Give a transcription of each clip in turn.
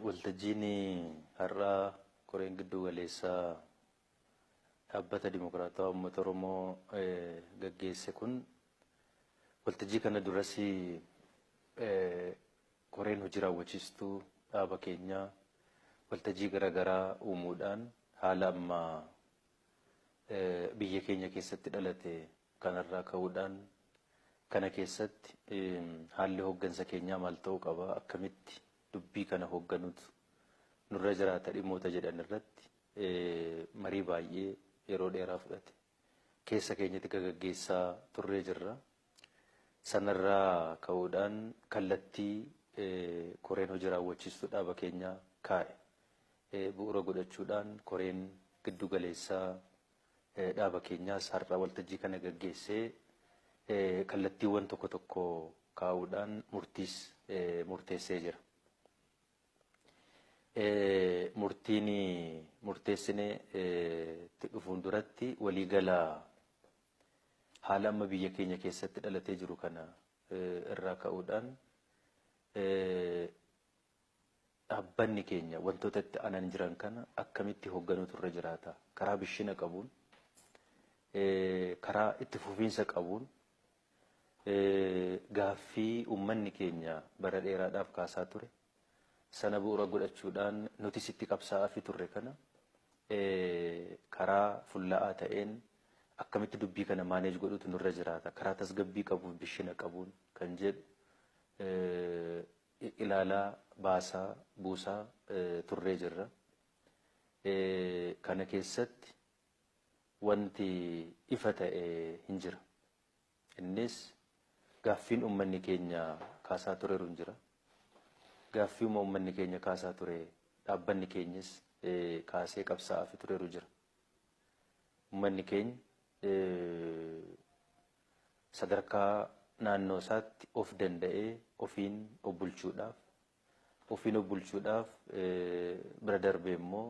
Waltajjiin har'aa koreen gidduu galeessaa Dhaabbata Dimokiraatawaa Uummata Oromoo gaggeesse kun waltajjii kana duras koreen hojii raawwachiistuu dhaaba keenyaa waltajjii garaagaraa uumuudhaan haala amma biyya keenya keessatti dhalate Kanarraa ka'uudhaan kana keessatti haalli hooggansa keenyaa maal ta'uu qaba, akkamitti dubbii kana hoogganuutu nurra jiraata dhimmoota jedhan irratti marii baay'ee yeroo dheeraa fudhate keessa keenyatti gagaggeessaa turree jirra. Sanarraa ka'uudhaan kallattii koreen hojii raawwachiistuu dhaaba keenyaa kaa'e bu'uura godhachuudhaan koreen giddu galeessaa dhaaba keenyaas har'a waltajjii kana gaggeessee kallattiiwwan tokko tokko kaa'uudhaan murtiis murteessee jira. Murtiin murteessine itti dhufuun duratti waliigala haala amma biyya keenya keessatti dhalatee jiru kana irraa ka'uudhaan Dhaabbanni keenya wantoota itti aanan jiran kana akkamitti hogganuutu irra jiraata? Karaa bishina qabuun, karaa itti fufiinsa qabuun gaaffii uummanni keenya bara dheeraadhaaf kaasaa ture sana bu'uura godhachuudhaan nutis itti qabsaa'aafii turre kana karaa fulla'aa ta'een akkamitti dubbii kana maaneej godhuutu nurra jiraata? Karaa tasgabbii qabuun, bishina qabuun kan jedhu ilaalaa, baasaa, buusaa turree jirra. Kana keessatti wanti ifa ta'e hin jira. Innis gaaffiin ummanni keenya kaasaa tureru hin jira. Gaaffiuma ummanni keenya kaasaa ture dhaabbanni keenyis kaasee qabsaa'aafi tureru jira. Ummanni keenya sadarkaa naannoo isaatti of danda'ee ofiin of bulchuudhaaf, ofiin of bulchuudhaaf bira darbee immoo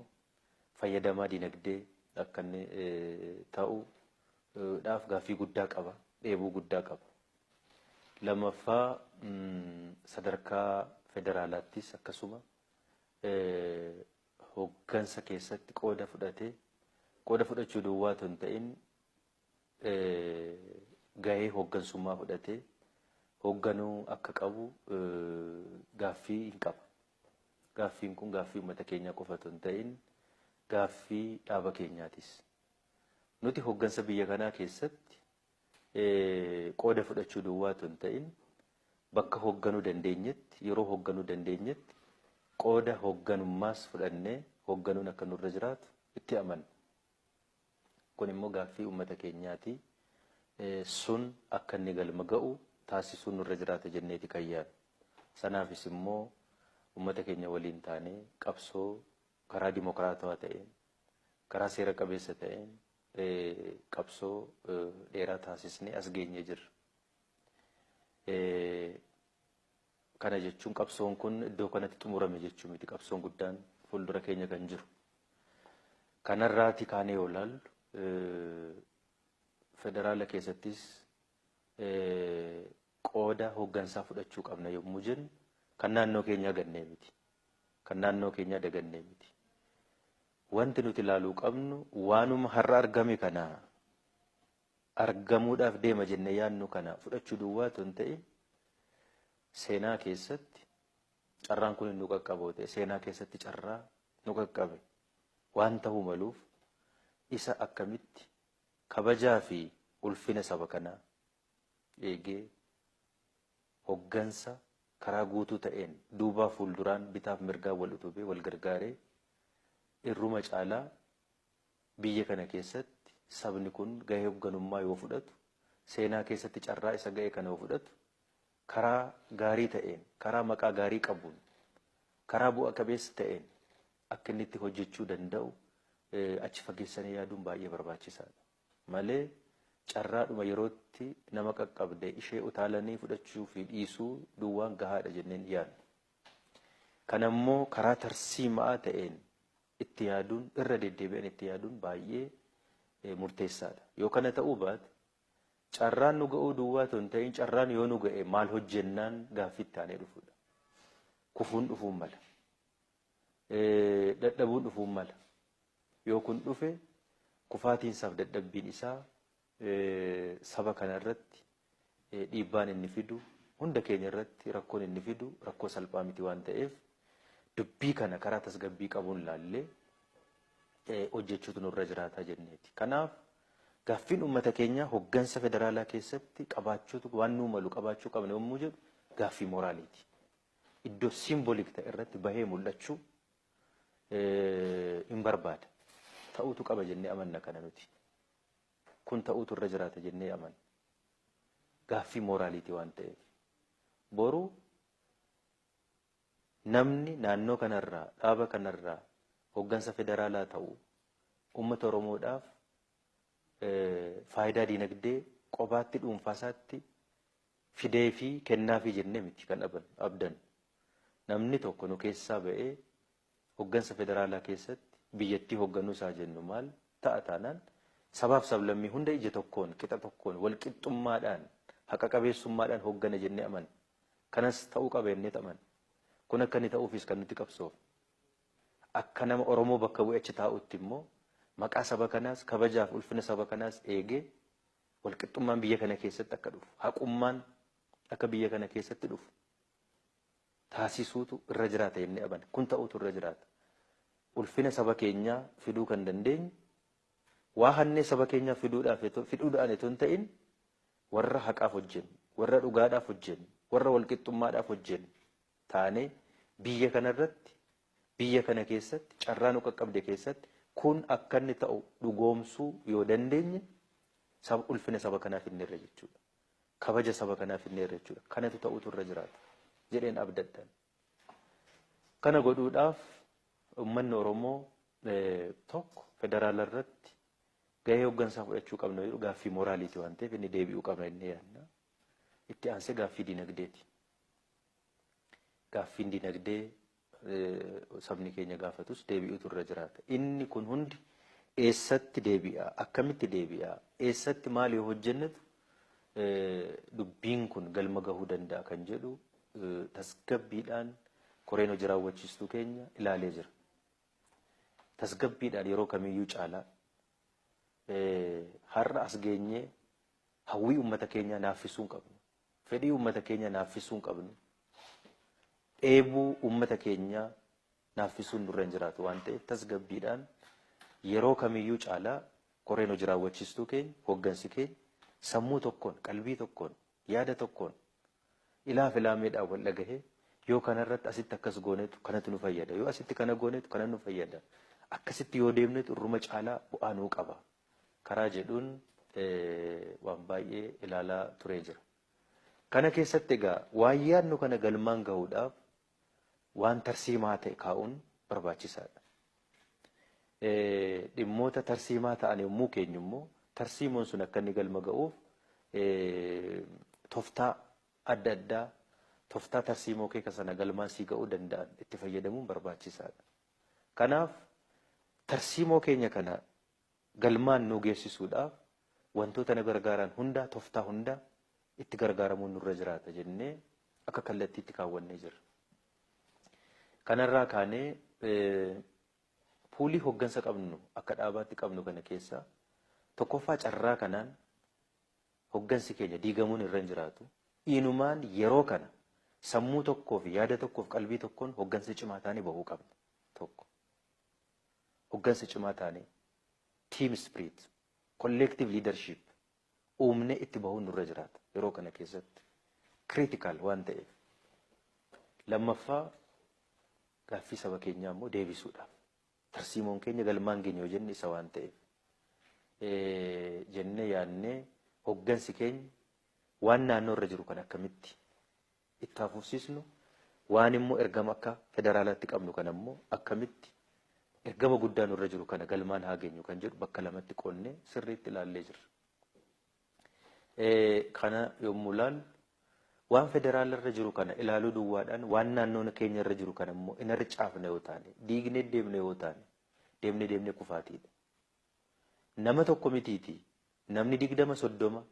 fayyadamaa dinagdee akka inni ta'u dhaaf gaaffii guddaa qaba, dheebuu guddaa qaba. Lammaffaa sadarkaa federaalaattis akkasuma hoggansa keessatti qooda fudhatee qooda fudhachuu duwwaa otoo hin ta'in gahee hooggansummaa fudhatee hoogganuu akka qabu gaaffii hin qaba. Gaaffiin kun gaaffii uummata keenyaa qofa otoo hin ta'in gaaffii dhaaba keenyaatis. Nuti hooggansa biyya kanaa keessatti qooda fudhachuu duwwaa otoo hin ta'in bakka hoogganuu dandeenyetti yeroo hoogganuu dandeenyetti qooda hoogganummaas fudhannee hoogganuun akka nurra jiraatu itti amanna. Kun immoo gaaffii ummata keenyaati. Sun akka inni galma ga'u taasisuun nurra jiraata jenneeti kan yaadnu. Sanaafis immoo ummata keenya waliin taanee qabsoo karaa dimokiraatawaa ta'een, karaa seera qabeessa ta'een qabsoo dheeraa taasisnee as geenyee jirra. Kana jechuun qabsoon kun iddoo kanatti xumurame jechuu miti. Qabsoon guddaan fuuldura keenya kan jiru. Kanarraati kaanee yoo ilaallu federaala keessattis qooda hooggansaa fudhachuu qabna yommuu jennu kan naannoo keenyaa gannee miti. Kan naannoo keenyaa dagannee miti. Wanti nuti ilaaluu qabnu waanuma har'a argame kana argamuudhaaf deema jennee yaadnu kana fudhachuu duwwaa utuu hin ta'in seenaa keessatti carraan kun nu qaqqaboo ta'e seenaa keessatti carraa nu qaqqabe waan ta'uu maluuf isa akkamitti kabajaa fi ulfina saba kanaa eegee hoggansa karaa guutuu ta'een duubaa fuulduraan bitaaf mirgaan wal utubee wal gargaaree irruma caalaa Biyya kana keessatti sabni kun gahee hogganummaa yoo fudhatu, seenaa keessatti carraa isa ga'e kana yoo fudhatu, karaa gaarii ta'een, karaa maqaa gaarii qabuun, karaa bu'a qabeessa ta'een akka inni itti hojjechuu danda'u achi fageessanii yaaduun baay'ee barbaachisaadha. Malee carraadhuma yerootti nama qaqqabde ishee utaalanii fudhachuu fi dhiisuu duwwaan gahaadha jennee hin yaadnu. Kanammoo karaa tarsiima'aa ta'een itti yaaduun, irra deddeebi'an itti yaaduun baay'ee murteessaa dha. Yoo kana ta'uu baate, carraan nu ga'uu duwwaa otoo hin ta'in carraan yoo nu ga'e maal hojjennaan gaaffii itti aanee dhufu dha. Kufuun dhufuu mala. Dadhabuun dhufuu mala. Yoo kun dhufe kufaatiin isaaf dadhabbiin isaa saba kana irratti dhiibbaan inni fidu hunda keenya irratti rakkoon inni fidu rakkoo salphaa miti waan ta'eef dubbii kana karaa tasgabbii qabuun laallee hojjechuutu nurra jiraataa jenneeti. Kanaaf gaaffiin uummata keenyaa hoggansa federaalaa keessatti qabaachuutu waan nuu malu qabaachuu qabna yommuu jedhu gaaffii mooraaliiti. Iddoo siimbolik ta'e irratti bahee mul'achuu hin barbaada. Ta'uutu qaba jennee amanna kana nuti. Kun ta'uutu irra jiraata jennee amanna. Gaaffii mooraaliitii waan ta'eef. Boru namni naannoo kanarraa, dhaaba kanarraa hoggansa federaalaa ta'u uummata Oromoodhaaf faayidaa diinagdee qobaatti dhuunfaasaatti fideefii kennaafii jennee miti kan abdannu. Namni tokko nu keessaa ba'ee Hoggansa federaalaa keessatti biyyattii hogganus haa jennu maal ta'a taanaan sabaaf sablammii hunda ija tokkoon, qixa tokkoon, walqixxummaadhaan, haqa qabeessummaadhaan hoggana jennee amanna. Kanas ta'uu qaba jenneet amanna. Kun akka inni ta'uufis kan nuti qabsoofne. Akka nama Oromoo bakka bu'ee achi taa'uutti immoo maqaa saba kanaas, kabajaaf ulfina saba kanaas eegee walqixxummaan biyya kana keessatti akka dhufu, haqummaan akka biyya kana keessatti dhufu taasisuutu irra jiraata jennee amana. Kun ta'uutu irra jiraata. Ulfina saba keenyaa fiduu kan dandeenyu waa hannee saba keenyaaf fiduudhaaf etoo fidhuudhaan etoo hin ta'in warra haqaaf hojjennu, warra dhugaadhaaf hojjennu, warra walqixxummaadhaaf hojjennu taanee biyya kana irratti, biyya kana keessatti, carraa nu qaqqabde keessatti kun akka inni ta'u dhugoomsuu yoo dandeenye saba ulfina saba kanaa fidneerra jechuudha. Kabaja saba kanaa fidneerra jechuudha. Kanatu ta'uutu irra jiraata jedheen abdadhan. Kana godhuudhaaf ummanni Oromoo tokko federaala irratti gahee hoggansaa fudhachuu qabna jedhu gaaffii moraaliiti waan ta'eef inni deebi'uu qabna inni yaadna. Itti aansee gaaffii dinagdeeti. Gaaffiin dinagdee sabni keenya gaafatus deebi'utu irra jiraata. Inni kun hundi eessatti deebi'a? Akkamitti deebi'a? Eessatti maal yoo hojjennetu dubbiin kun galma gahuu danda'a kan jedhu tasgabbiidhaan koreen hojii raawwachiistuu keenya ilaalee jira. Tasgabbiidhaan yeroo kamiyyuu caalaa har'a as geenyee hawwii uummata keenyaa naaffisuu hin qabnu. Fedhii uummata keenya naaffisuu hin qabnu. Dheebuu uummata keenyaa naaffisuun nurra hin jiraatu waan ta'eef tasgabbiidhaan yeroo kamiyyuu caalaa koreen hojii raawwachiistuu keenya, hooggansi keenya sammuu tokkoon, qalbii tokkoon, yaada tokkoon ilaa fi laameedhaan wal dhagahee yoo kanarratti asitti akkas goonetu kanatu nu fayyada, yoo asitti kana goonetu kana nu fayyada, akkasitti yoo deemnetu irruma caalaa bu'aa nuu qaba karaa jedhuun waan baay'ee ilaalaa turee jira. Kana keessatti egaa waan yaadnu kana galmaan gahuudhaaf waan tarsiimaa ta'e kaa'uun barbaachisaadha. Dhimmoota tarsiimaa ta'an yommuu keenyu immoo tarsiimoon sun akka inni galma ga'uuf toftaa adda addaa toftaa tarsiimoo keeka sana galmaan sii ga'uu danda'an itti fayyadamuun barbaachisaadha. Kanaaf tarsiimoo keenya kana galmaan nuu geessisuudhaaf wantoota nu gargaaraan hundaa, toftaa hundaa itti gargaaramuun nurra jiraata jennee akka kallattiitti kaawwannee jirra. Kanarraa kaanee puulii hoggansa qabnu akka dhaabaatti qabnu kana keessaa tokkoffaa carraa kanaan Hoggansi keenya diigamuun irra hin jiraatu. Inumaan yeroo kana sammuu tokkoo fi yaada tokkoo fi qalbii tokkoon hoggansa cimaa taanee bahuu qabna. Tokko. Hoggansa cimaa taanee team spirit, collective leadership uumnee itti bahuun nurra jiraata yeroo kana keessatti. Critical waan ta'eef. Lammaffaa gaaffii saba keenyaa immoo deebisuudhaaf Tarsiimoon keenya galmaan geenya yoo jenne isa waan ta'eef jennee yaadnee hoggansi keenya waan naannoo irra jiru kan akkamitti itti hafuufsiisnu waan immoo ergama akka federaalaatti qabnu kan ammoo akkamitti ergama guddaa nurra jiru kana galmaan haa geenyu kan jedhu bakka lamatti qonnee sirriitti ilaallee jirra. Kana yommuu ilaallu waan federaala irra jiru kana ilaaluu duwwaadhaan waan naannoon keenya irra jiru kana immoo hin harcaafne yoo taane diignee deemne yoo taane deemne deemne kufaatiidha. Nama tokko mitiiti namni digdama soddoma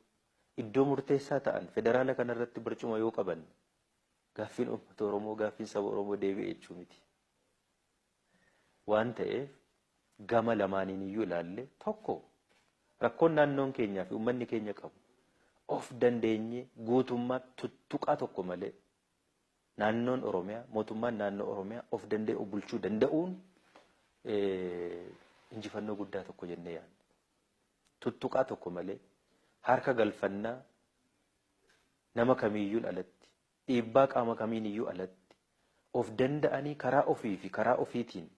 iddoo murteessaa ta'an federaala kana irratti barcuma yoo qaban gaaffiin uummata Oromoo gaaffiin saba Oromoo deebi'e jechuu miti. Waan ta'eef gama lamaaniiniyyuu ilaallee tokko rakkoon naannoon keenyaa fi ummanni keenya qabu of dandeenyee guutummaatti tuttuqaa tokko malee naannoon Oromiyaa mootummaan naannoo Oromiyaa of danda'ee of bulchuu danda'uun injifannoo guddaa tokko jennee yaadna. Tuttuqaa tokko malee harka galfannaa nama kamiiyyuun alatti dhiibbaa qaama kamiiniyyuu alatti, of danda'anii karaa ofii fi karaa ofiitiin,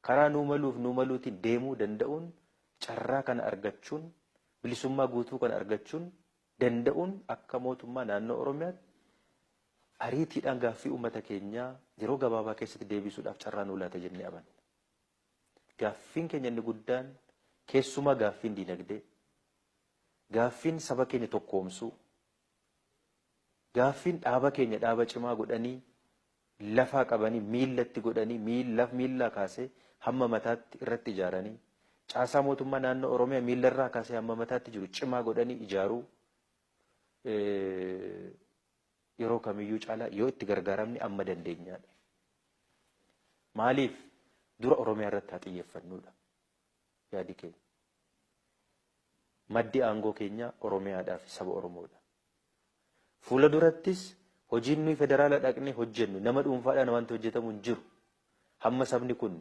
karaa nuu maluu fi nuu maluutiin deemuu danda'uun carraa kana argachuun, bilisummaa guutuu kana argachuun danda'uun akka Mootummaa Naannoo Oromiyaatti ariitiidhaan gaaffii uummata keenyaa yeroo gabaabaa keessatti deebiisuudhaaf carraa nuu laata jennee amanna. Gaaffiin keenya inni guddaan keessumaa gaaffiin diinagdee, gaaffiin saba keenya tokkoomsuu, Gaaffiin dhaaba keenya dhaaba cimaa godhanii lafaa qabanii miilla itti godhanii miillaa kaasee hamma mataatti irratti ijaaranii caasaa mootummaa naannoo Oromiyaa miilla irraa kaasee hamma mataatti jiru cimaa godhanii ijaaruu yeroo kamiyyuu caalaa yoo itti gargaaramne amma dandeenyaadha. Maaliif dura Oromiyaa irratti haa xiyyeeffannuudha. Yaadi keenya. Maddi aangoo keenyaa Oromiyaadhaa fi saba Oromoodha. Fuula durattis hojiin nuyi federaala dhaqnee hojjennu nama dhuunfaadhaan wanti hojjetamu hin jiru. Hamma sabni kun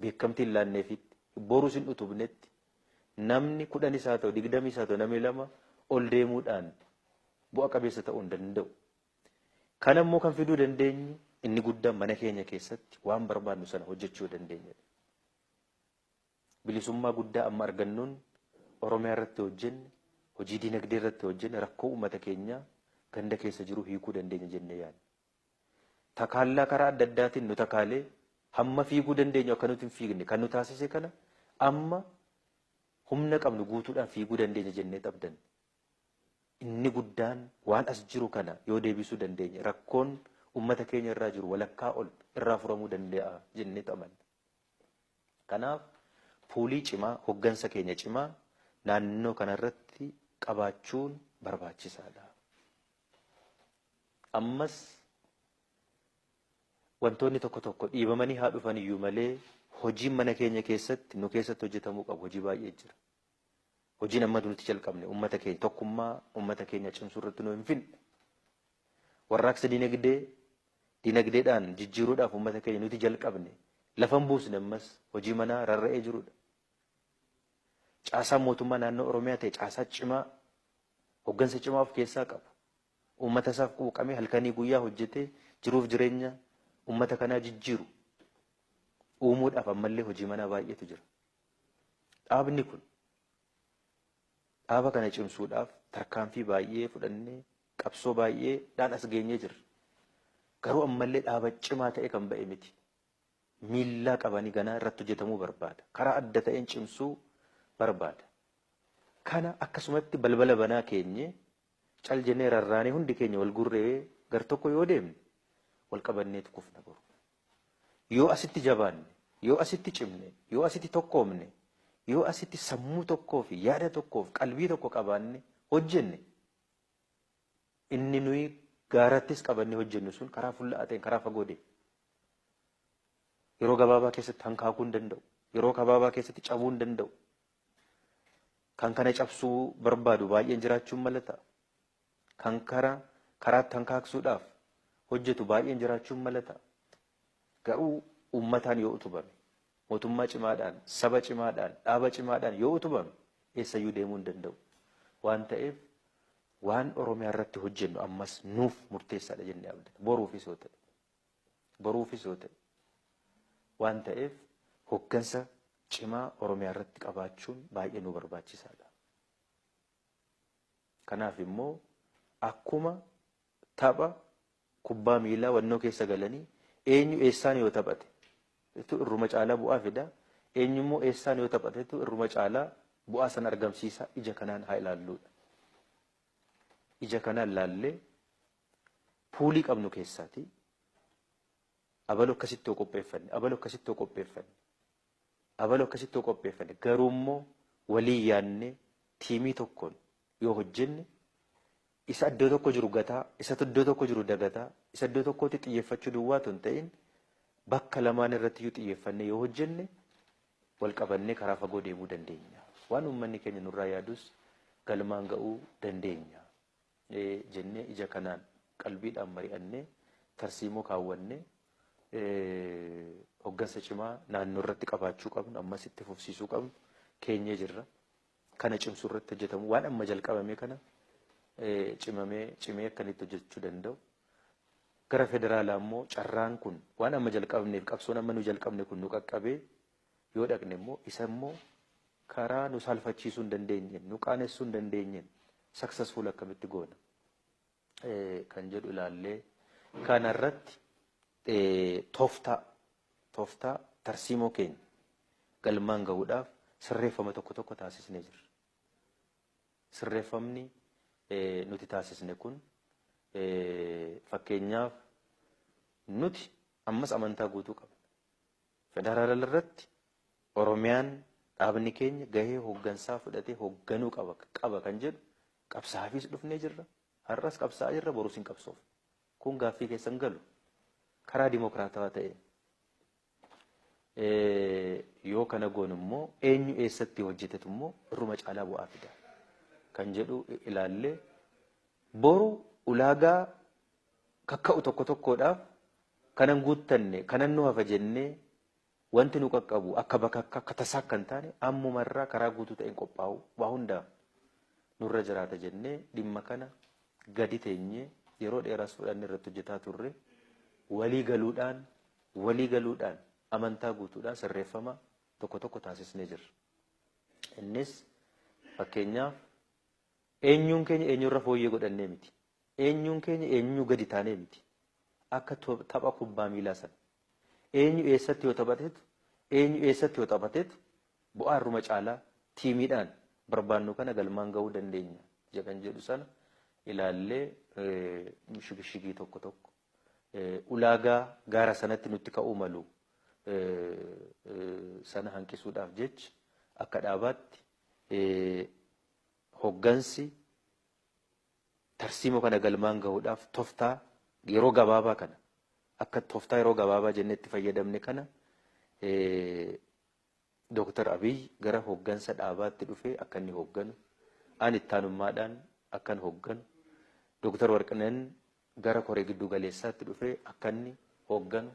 beekamtii hin laanneefitti, borus hin utubnetti namni kudhanis haa ta'u, digdamis haa ta'u, namni lama ol deemuudhaan bu'a qabeessa ta'uu hin danda'u. Kana immoo kan fiduu dandeenyu inni guddaan mana keenya keessatti waan barbaadnu sana hojjechuu yoo dandeenyedha. Bilisummaa guddaa amma argannuun Oromiyaa irratti hojjenne, hojii dinagdee irratti hojjenne rakkoo uummata keenyaa ganda keessa jiru hiikuu dandeenya jennee yaadna. Takaallaa karaa adda addaatiin nu takaalee hamma fiiguu dandeenyu akka nuti hin fiigne kan nu taasise kana amma humna qabnu guutuudhaan fiiguu dandeenya jennee abdanne. Inni guddaan waan as jiru kana yoo deebisuu dandeenye rakkoon uummata keenya irraa jiru walakkaa ol irraa furamuu danda'a jennee amanna. Kanaaf poolii cimaa, hoggansa keenya cimaa naannoo kana irratti qabaachuun barbaachisaa dha. Ammas wantoonni tokko tokko dhiibamanii haa dhufan iyyuu malee hojiin mana keenya keessatti nu keessatti hojjetamuu qabu hojii baay'ee jira. Hojiin amma nuti jalqabne ummata keenya tokkummaa ummata keenya cimsuu irratti nu hin finne. Warraaqsa dinagdee dinagdeedhaan jijjiiruudhaaf ummata keenya nuti jalqabne lafa hin buusne ammas hojii manaa rarra'ee jirudha. Caasaan mootummaa naannoo Oromiyaa ta'e caasaa cimaa hoggansa cimaa of keessaa qabu. Ummata isaaf quuqamee halkanii guyyaa hojjetee jiruuf jireenya ummata kanaa jijjiiru uumuudhaaf ammallee hojii manaa baay'eetu jira. Dhaabni kun dhaaba kana cimsuudhaaf tarkaanfii baay'ee fudhannee qabsoo baay'ee dhaan as geenyee jirra. Garuu ammallee dhaaba cimaa ta'ee kan ba'e miti. Miillaa qabanii ganaa irratti hojjetamuu barbaada. Karaa adda ta'een cimsuu barbaada. Kana akkasumatti balbala banaa keenyee cal jennee rarraanee hundi keenya wal gurree gar tokko yoo deemne wal qabanneetu kufna boru. Yoo asitti jabaanne, yoo asitti cimne, yoo asitti tokkoomne, yoo asitti sammuu tokkoo fi yaada tokkoo fi qalbii tokko qabaanne hojjenne, inni nuyi gaarattis qabannee hojjennu sun karaa fulla'aa ta'een, karaa fagoo deema. Yeroo gabaabaa keessatti hankaakuu hin danda'u. Yeroo gabaabaa keessatti cabuu hin danda'u. Kan kana cabsuu barbaadu baay'een jiraachuun mala ta'a. Kan kara karaatti hankaaksuudhaaf hojjetu baay'een jiraachuun mala ta'a. Garuu uummataan yoo utubame, mootummaa cimaadhaan, saba cimaadhaan, dhaaba cimaadhaan yoo utubame eessayyuu deemuu hin danda'u. Waan ta'eef waan Oromiyaa irratti hojjennu ammas nuuf murteessaadha jennee abdanna. Boruufis yoo ta'e. boruufis yoo ta'e waan ta'eef hoggansa cimaa Oromiyaa irratti qabaachuun baay'ee nu barbaachisaadha. Kanaaf immoo akkuma tapha kubbaa miilaa wannoo keessa galanii eenyu eessaan yoo taphate tu irruma caalaa bu'aa fida eenyu immoo eessaan yoo taphate tu irruma caalaa bu'aa san argamsiisa ija kanaan haa ilaalluudha. Ija kanaan laallee puulii qabnu keessaati abalu akkasitti yoo qopheeffanne abalu akkasitti yoo qopheeffanne abalu akkasitti yoo qopheeffanne garuu immoo walii yaannee tiimii tokkoon yoo hojjenne isa iddoo tokko jiru gataa isa iddoo tokko jiru dagataa isa iddoo tokkotti xiyyeeffachuu duwwaa tun ta'in bakka lamaan irratti iyyuu xiyyeeffannee yoo hojjenne wal qabannee karaa fagoo deemuu dandeenya. Waan uummanni keenya nurraa yaadus galmaan ga'uu dandeenya. ee jennee ija kanaan qalbiidhaan mari'annee tarsiimoo kaawwannee hoggansa cimaa naannoo irratti qabaachuu qabnu ammas itti fufsiisuu qabnu keenyee jirra. Kana cimsuu irratti hojjetamu waan amma jalqabame kana cimamee cimee akka inni itti hojjechuu danda'u. Gara federaalaa immoo carraan kun waan amma jalqabneef qabsoon amma nu jalqabne kun nu qaqqabee yoo dhaqne immoo isa immoo karaa nu saalfachiisuu hin dandeenyeen nu qaanessuu hin dandeenyeen successful akkamitti goona kan jedhu ilaallee kana irratti tooftaa tooftaa tarsiimoo keenya galmaan gahuudhaaf sirreeffama tokko tokko taasisnee jirra. Sirreeffamni nuti taasisne kun fakkeenyaaf nuti ammas amantaa guutuu qabna. Federaalal irratti Oromiyaan dhaabni keenya gahee hoggansaa fudhatee hogganuu qaba qaba kan jedhu qabsaafiis dhufnee jirra. Har'as qabsaa'aa jirra borus hin qabsoofna. Kun gaaffii keessa hin galu. Karaa dimokiraatawaa ta'een yoo kana goonu immoo eenyu eessatti hojjetetu immoo irruma caalaa bu'aa fida kan jedhu ilaallee boru ulaagaa kakka'u tokko tokkoodhaaf kanan guuttanne kanan nu hafa jennee wanti nu qaqqabu akka bakakka akka tasaa akka hin taane ammuma irraa karaa guutuu ta'een qophaa'u waa hundaaf nurra jiraata jennee dhimma kana gadi teenyee yeroo dheeraas fudhanne irratti hojjetaa turre walii galuudhaan walii galuudhaan amantaa guutuudhaan sirreeffama tokko tokko taasisnee jirra. Innis fakkeenyaaf eenyuun keenya eenyurra fooyyee godhannee miti. Eenyuun keenya eenyuu gadi taanee miti. Akka tapha kubbaa miilaa sana. Eenyu eessatti yoo taphatetu, eenyu eessatti yoo taphatetu bu'aa irruma caalaa tiimiidhaan barbaannu kana galmaan gahuu dandeenya isa kan jedhu sana ilaallee shigishigii tokko tokko ulaagaa gaara sanatti nutti ka'uu malu sana hanqisuudhaaf jecha akka dhaabaatti hoggansi Tarsiimoo kana galmaan gahuudhaaf toftaa yeroo gabaabaa kana akka toftaa yeroo gabaabaa jennee itti fayyadamne kana Dooktar Abiy gara hooggansa dhaabaatti dhufee akka inni hoogganu, an ittaanummaadhaan akkan hoogganu, Dooktar Warqineen gara koree gidduu galeessaatti dhufee akka inni hoogganu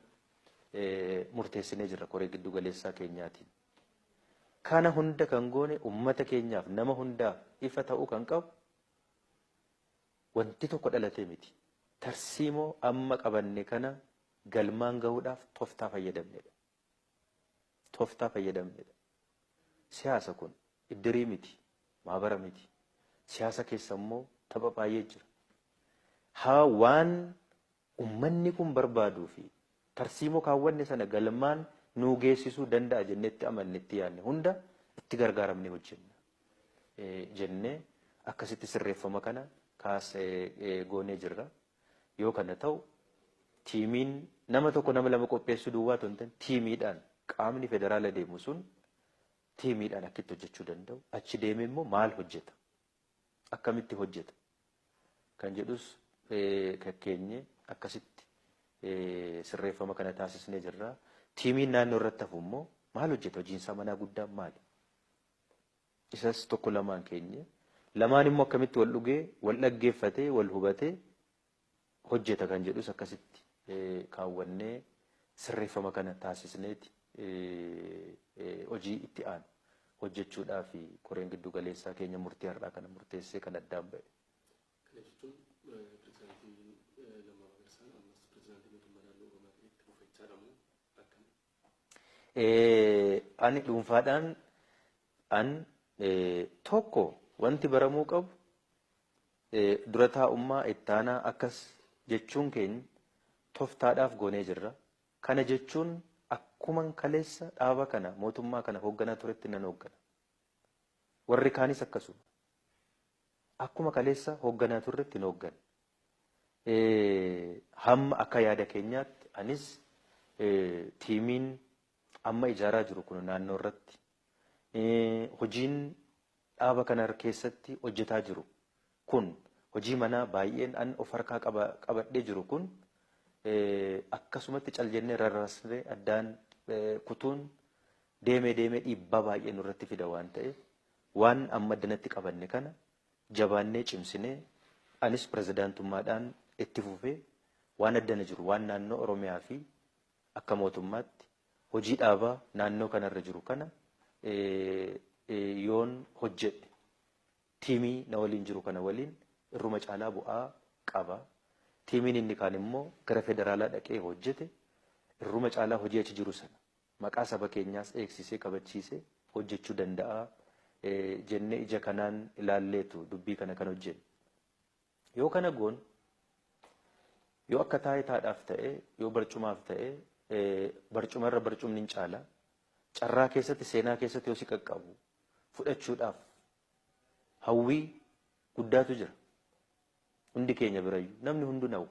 murteessinee jirra koree gidduu galeessaa keenyaatiin. Kana hunda kan goone uummata keenyaaf nama hundaaf ifa ta'uu kan qabu wanti tokko dhalatee miti. Tarsiimoo amma qabanne kana galmaan gahuudhaaf toftaa fayyadamnedha. Toftaa fayyadamnedha. Siyaasa kun iddirii miti, maabara miti. Siyaasa keessa immoo tapha baay'ee jira. Haa waan Ummanni kun barbaaduu fi tarsiimoo kaawwanne sana galmaan nuu geessisuu danda'a jennee itti amanne, itti yaadne hunda itti gargaaramnee hojjenna jennee akkasitti sirreeffama kana goonee jirra. Yoo kana ta'u tiimiin nama tokko, nama lama qopheessuu duwwaa otoo hin ta'in tiimiidhaan qaamni federaala deemu sun tiimiidhaan akka itti hojjechuu danda'u, achi deemee immoo maal hojjeta? akkamitti hojjeta kan jedhus kakkeenye akkasitti sirreeffama kana taasisnee jirra. Tiimiin naannoo irratti hafu immoo maal hojjeta hojiinsaa manaa guddaan maali? Isas tokko lamaan keenye lamaan immoo akkamitti wal dhugee wal dhaggeeffatee wal hubatee hojjeta kan jedhus akkasitti kaawwannee sirreeffama kana taasisneeti hojii itti aanu hojjechuudhaaf koreen giddu galeessaa keenya murtii har'aa kana murteessee kan addaan ba'e. Kana jechuun pirezidaantiin Lammaa Magarsaan ammas pirezidaantii mootummaa naannoo Oromiyaa ta'ee itti fufaa jechaadha moo akkami? Ani dhuunfaadhaan an tokko wanti baramuu qabu dura taa'ummaa ittaanaa akkas jechuun keenya toftaadhaaf goonee jirra. Kana jechuun akkuman kaleessa dhaaba kana mootummaa kana hoogganaa turetti nan hooggana. Warri kaanis akkasuma. Akkuma kaleessa hoogganaa turretti hin hoogganna. Hamma akka yaada keenyaatti anis tiimiin amma ijaaraa jiru kun naannoo irratti hojiin dhaaba kana keessatti hojjetaa jiru kun hojii manaa baay'een an of harkaa qabadhee jiru kun akkasumatti cal jennee rarraasnee addaan kutuun deemee deemee dhiibbaa baay'ee nurratti fida waan ta'eef waan amma addanatti qabanne kana Jabaannee cimsinee anis pirezidaantummaadhaan itti fufee waan adda na jiru waan naannoo Oromiyaa fi akka mootummaatti hojii dhaabaa naannoo kana irra jiru kana yoon hojjedhe tiimii na waliin jiru kana waliin irruma caalaa bu'aa qaba. Tiimiin inni kaan immoo gara federaalaa dhaqee hojjete irruma caalaa hojii achi jiru sana maqaa saba keenyaas eegsisee kabachiise hojjechuu danda'a jennee ija kanaan ilaalleetu dubbii kana kan hojjenne. Yoo kana goone yoo akka taayitaadhaaf ta'e yoo barcumaaf ta'e barcuma irra barcumni hin caala carraa keessatti seenaa keessatti yoo si qaqqabu fudhachuudhaaf hawwii guddaatu jira. Hundi keenya birayyu namni hundu nawu.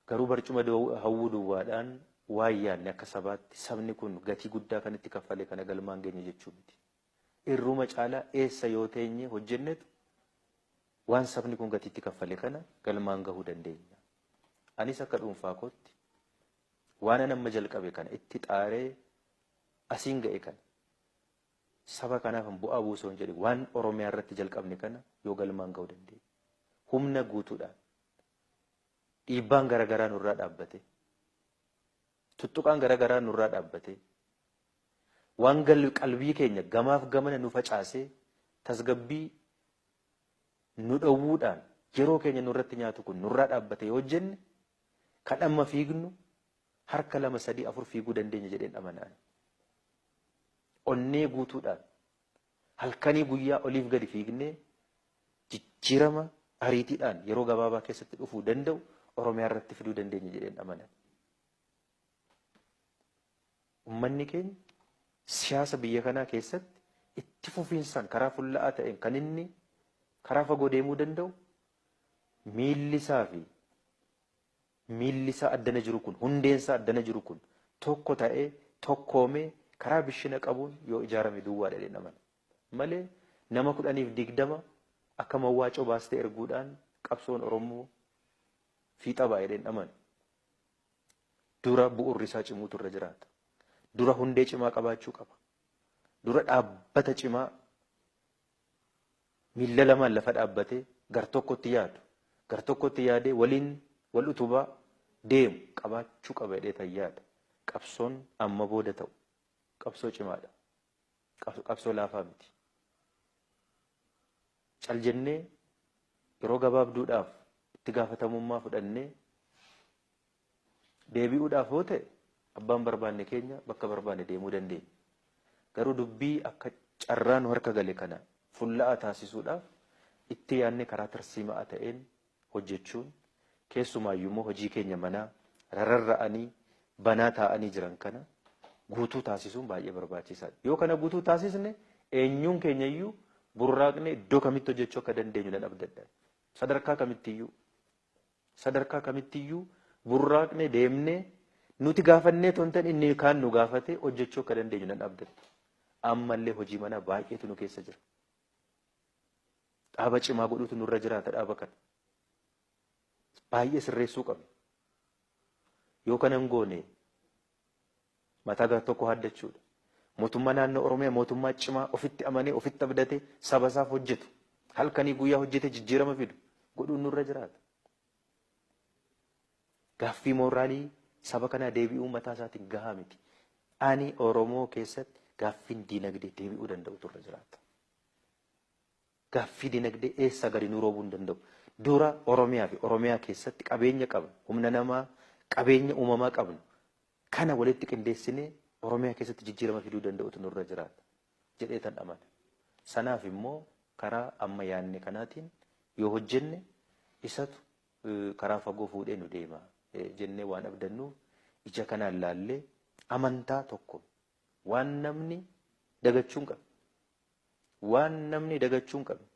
Garuu barcuma hawwuu duwwaadhaan waan yaadne akka sabaatti sabni kun gatii guddaa kan itti kaffale kana galmaan geenye jechuu miti. Irruma caalaa eessa yoo teenye hojjennetu waan sabni kun gatii itti kaffale kana galmaan gahuu dandeenya. Anis akka dhuunfaa kootti waanan amma jalqabe kana itti xaaree asiin ga'e kana saba kanaafan bu'aa buusoo hin jedhe waan Oromiyaa irratti jalqabne kana yoo galmaan gahuu dandeenya. Humna guutuudhaan dhiibbaan gara garaa nurraa dhaabbatee, tuttuqaan gara garaa nurraa dhaabbatee, waan gal qalbii keenya gamaaf gamana nu facaasee tasgabbii nu dhowwuudhaan yeroo keenya nurratti nyaatu kun nurraa dhaabbatee yoo hojjenne kan amma fiignu harka lama sadii afur fiiguu dandeenya jedheen amanaan. Onnee guutuudhaan Halkanii guyyaa oliif gadi fiignee jijjiirama ariitiidhaan yeroo gabaabaa keessatti dhufuu danda'u Oromiyaa irratti fiduu dandeenya jedheen amana. Ummanni keenya siyaasa biyya kanaa keessatti itti fufiinsaan karaa fulla'aa ta'een kan inni karaa fagoo deemuu danda'u miilli isaa fi Miilli isaa addana jiru kun, hundeen isaa addana jiru kun tokko ta'ee, tokkoomee, karaa bishina qabuun yoo ijaarame duwwaa dha jedheen amana. Malee nama kudhaniif digdama akka mawwaacoo baastee erguudhaan qabsoon Oromoo fiixa ba'a jedheen amanu. Dura bu'urri isaa cimuutu irra jiraata. Dura hundee cimaa qabaachuu qaba. Dura dhaabbata cimaa miilla lamaan lafa dhaabbatee gartokkotti yaadu, gartokkotti yaadee waliin wal utubaa deemu qabaachuu qaba jedheetan yaada. Qabsoon amma booda ta'u qabsoo cimaadha. Qabsoo laafaa miti. Cal jennee yeroo gabaabduudhaaf itti gaafatamummaa fudhannee Deebi'uudhaaf yoo ta'e abbaan barbaanne keenya bakka barbaanne deemuu dandeenya. Garuu dubbii akka carraa nu harka gale kana fulla'aa taasisuudhaaf itti yaadnee karaa tarsiima'aa ta'een hojjechuun keessumaayyuu immoo hojii keenya manaa rararra'anii banaa taa'anii jiran kana guutuu taasisuun baay'ee barbaachisaadha. Yoo kana guutuu taasisne eenyuun keenyayyuu burraaqnee iddoo kamitti hojjechuu akka dandeenyu nan abdadha. Sadarkaa kamittiyyuu Sadarkaa kamitti iyyuu burraaqnee deemnee nuti gaafannee otoo hin ta'in inni kaan nu gaafatee hojjechuu akka dandeenyu nan abdadha. Ammallee hojii manaa baay'eetu nu keessa jira. Dhaaba cimaa godhuutu nurra jiraata dhaaba kana. Baay'ee sirreessuu qabna. Yoo kana hin goone Mataa gar tokko haaddachuudha. Mootummaa naannoo Oromiyaa mootummaa cimaa ofitti amanee ofitti abdatee saba isaaf hojjetu halkanii guyyaa hojjetee jijjiirama fidu godhuun nurra jiraata. Gaaffii mooraalii saba kanaa deebi'uu mataa isaatiin gahaa miti. Ani Oromoo keessatti gaaffiin diinagdee deebi'uu danda'u turre jiraata. Gaaffii dinagdee eessaa gadi nuu roobuu hin danda'u. Dura Oromiyaa fi Oromiyaa keessatti qabeenya qabnu, humna namaa, qabeenya uumamaa qabnu kana walitti qindeessinee Oromiyaa keessatti jijjiirama fiduu danda'utu nurra jiraata jedheetan amana. Sanaaf immoo karaa amma yaanne kanaatiin yoo hojjenne isatu karaa fagoo fuudhee nu deema jennee waan abdannuuf ija kanaan laallee amantaa tokkoon waan namni dagachuu hin qabne Waan namni dagachuu hin qabne,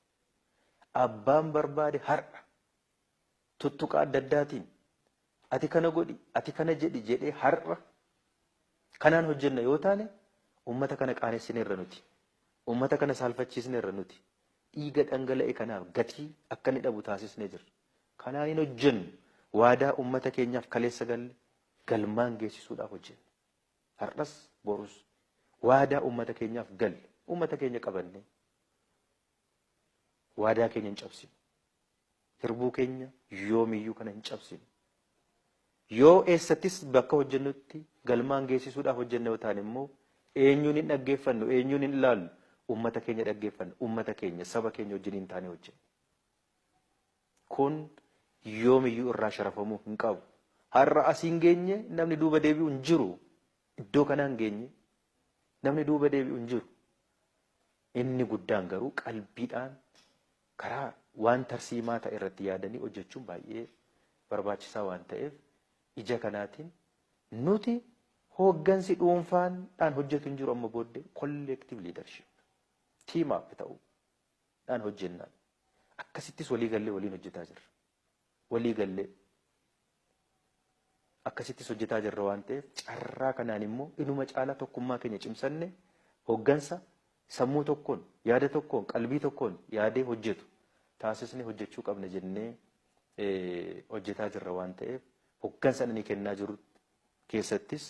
abbaan barbaade har'a tuttuqaa adda addaatiin ati kana godhi, ati kana jedhi jedhee har'a kanaan hojjenna yoo taane uummata kana qaanessineerra nuti. Uummata kana saalfachiisneerra nuti. Dhiiga dhangala'e kanaaf gatii akka inni dhabu taasisnee jirra. Kanaan hin hojjennu. Waadaa uummata keenyaaf kaleessa galle galmaan geessisuudhaaf hojjenna. Hardhas borus waadaa ummata keenyaaf galle ummata keenya qabannee waadaa keenya hin cabsinu. Hirbuu keenya yoomiyyuu kana hin cabsinu. Yoo eessattis bakka hojjennutti galmaan geessisuudhaaf hojjenne yoo taane immoo eenyuun hin dhaggeeffannu eenyuun hin ilaallu ummata keenya dhaggeeffanna ummata keenya saba keenya wajjin hin taane hojjenna. Kun yoomiyyuu irraa sharafamuu hin qabu. Har'a asiin geenye namni duuba deebi'u hin jiru. Iddoo kanaan geenye namni duuba deebi'u hin jiru. Inni guddaan garuu qalbiidhaan karaa waan tarsiimaa ta'e irratti yaadanii hojjechuun baay'ee barbaachisaa waan ta'eef ija kanaatiin nuti hooggansi dhuunfaan dhaan hojjetu hin jiru amma booddee collective leadership team up ta'uu. dhaan hojjenna. Akkasittis walii gallee waliin hojjetaa jirra. Walii gallee akkasittis hojjetaa jirra waan ta'eef carraa kanaan immoo inuma caalaa tokkummaa keenya cimsannee hoggansa sammuu tokkoon, yaada tokkoon, qalbii tokkoon yaadee hojjetu taasisnee hojjechuu qabna jennee hojjetaa jirra waan ta'eef hoggansa ani kennaa jiru keessattis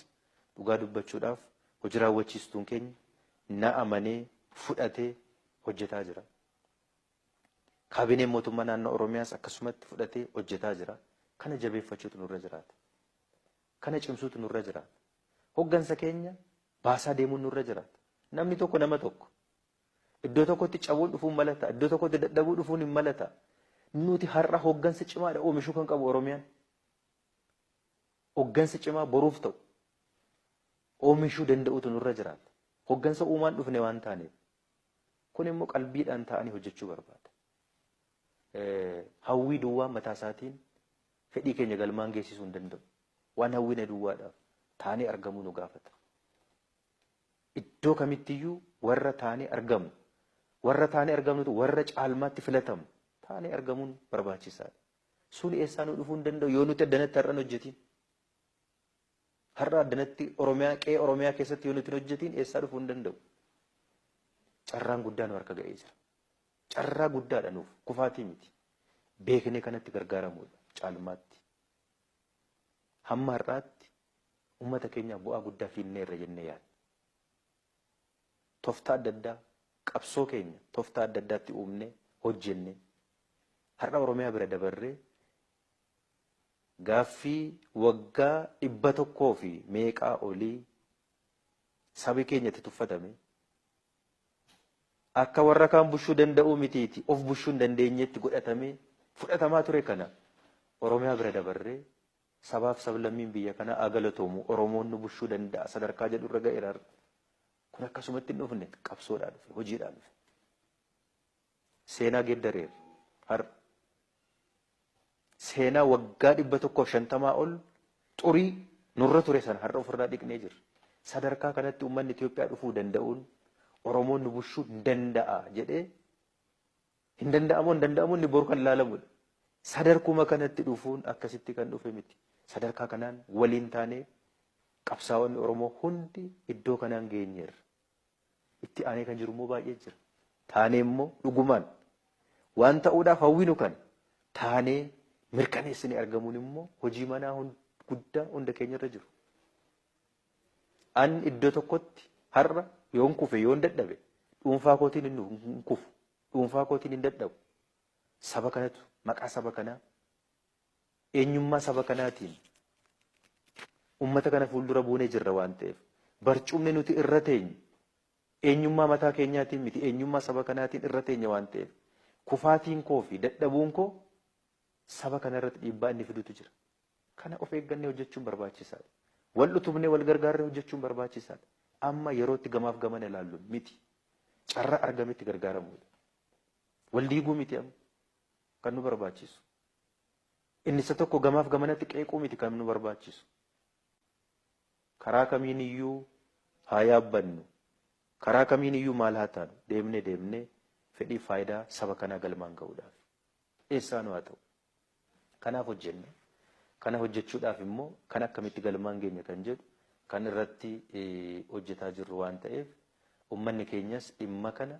dhugaa dubbachuudhaaf hojii raawwachiistuun keenya na amanee fudhatee hojjetaa jira. Kaabineen Mootummaa Naannoo Oromiyaas akkasumatti fudhatee hojjetaa jira. Kana jabeeffachuutu nurra jiraata. Kana cimsuutu nurra jiraata. Hoggansa keenya baasaa deemuun nurra jiraata. Namni tokko nama tokko. Iddoo tokkotti cabuun dhufuun mala ta'a. Iddoo tokkotti dadhabuu dhufuun hin mala ta'a. Nuti har'a hoggansa cimaadha oomishuu kan qabu Oromiyaan. Hoggansa cimaa boruuf ta'u oomishuu danda'uutu nurra jiraata. Hoggansa uumaan dhufne waan taaneef. Kun immoo qalbiidhaan taa'anii hojjechuu barbaada. Hawwii duwwaan mataa isaatiin fedhii keenya galmaan geessisuu hin danda'u. Waan hawwine duwwaadhaaf taanee argamuu nu gaafata. Iddoo kamittiyyuu warra taanee argamnu, warra taanee argamnutu warra caalmaatti filatamu taanee argamuun barbaachisaadha. Sun eessaa nu dhufuu hin danda'u yoo nuti addanatti har'a hin hojjetiin. Har'a addanatti Oromiyaa qe'ee Oromiyaa keessatti yoo nuti hin hojjetiin eessaa dhufuu hin danda'u. Carraan guddaa nu harka ga'ee jira. Carraa guddaadha nuuf kufaatii miti. Beeknee kanatti gargaaramuudha caalmaatti. Hamma har'aatti uummata keenyaaf bu'aa guddaa fiinneerra jennee yaadna. Toftaa adda addaa qabsoo keenya toftaa adda addaatti uumnee hojjennee har'a Oromiyaa bira dabarree Gaaffii waggaa dhibba tokkoo fi meeqaa olii sabi keenya itti tuffatame akka warra kaan bushuu danda'uu mitiiti of bushuu hin dandeenyeetti godhatamee fudhatamaa ture kana Oromiyaa bira dabarree sabaaf sablammiin biyya kanaa haa galatoomu Oromoon nu bushuu danda'a sadarkaa jedhu irra ga'eera har'a. Kun akkasumatti hin dhufne qabsoodhaan dhufe hojiidhaan dhufe. Seenaa geddareerra. Har'a. Seenaa waggaa 150 ol xurii nurra ture sana har'a ofirraa dhiqnee jirra. Sadarkaa kanatti uummanni Itoophiyaa dhufuu danda'uun Oromoon nu bulchuu hin danda'a jedhee hin danda'amoo hin danda'amoo inni boru kan ilaalamudha. Sadarkuma kanatti dhufuun akkasitti kan dhufe miti. Sadarkaa kanaan waliin taanee qabsaa'onni Oromoo hundi iddoo kanaan geenyeerra. Itti aanee kan jiru immoo baay'ee jira. Taanee immoo dhugumaan waan ta'uudhaaf hawwinu kana taanee mirkaneessine argamuun immoo hojii manaa guddaa hunda keenya irra jiru. An iddoo tokkotti har'a yoon kufe yoon dadhabe dhuunfaa kootiin hin kufu dhuunfaa kootiin hin dadhabu saba kanatu maqaa saba kanaa eenyummaa saba kanaatiin ummata kana fuuldura buunee jirra waan ta'eef barcumni nuti irra teenyu eenyummaa mataa keenyaatiin miti eenyummaa saba kanaatiin irra teenya waan ta'eef kufaatiin koo fi dadhabuun koo saba kana irratti dhiibbaa inni fidutu jira. Kana of eeggannee hojjechuun barbaachisaadha. Wal utubnee wal gargaarree hojjechuun barbaachisaadha. Amma yerootti gamaaf gamana ilaallu miti. Carraa argametti gargaaramuudha. Wal diiguu miti amma kan nu barbaachisu. Inni isa tokko gamaaf gamanatti qeequu miti kan nu barbaachisu. Karaa kamiin iyyuu haa yaabbannu, karaa kamiin iyyuu maal haa taanu deemnee deemnee fedhiif faayidaa saba kanaa galmaan ga'uudhaaf eessaanuu haa ta'u kanaaf hojjenna. Kana hojjechuudhaaf immoo kan akkamitti galmaan geenya kan jedhu kan irratti hojjetaa jirru waan ta'eef ummanni keenyas dhimma kana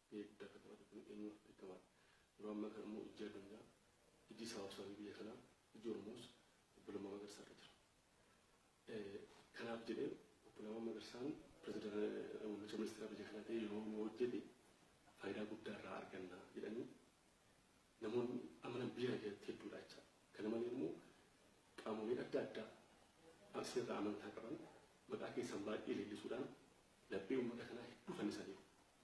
Eebda akka taphatu kan eenyuun akka beekamaan yeroo ammaa kana immoo ijji addunyaa, ijji sabaabsaa fi biyya kanaa, ijji Oromoos Obbo Lammaa Magarsaa irra jira. Kanaaf jedhee Obbo Lammaa Magarsaan pirezidaantii muummicha ministeeraa biyya kanaa ta'ee yoo nu hojjete faayidaa guddaa irraa arganna jedhanii namoonni amanan biyya kana keessatti hedduudha jecha. Kana malee immoo qaamoleen adda addaa as irraa amantaa qaban maqaa keessan baay'ee leellisuudhaan laphee uummata kanaa hedduu fannisaniiru.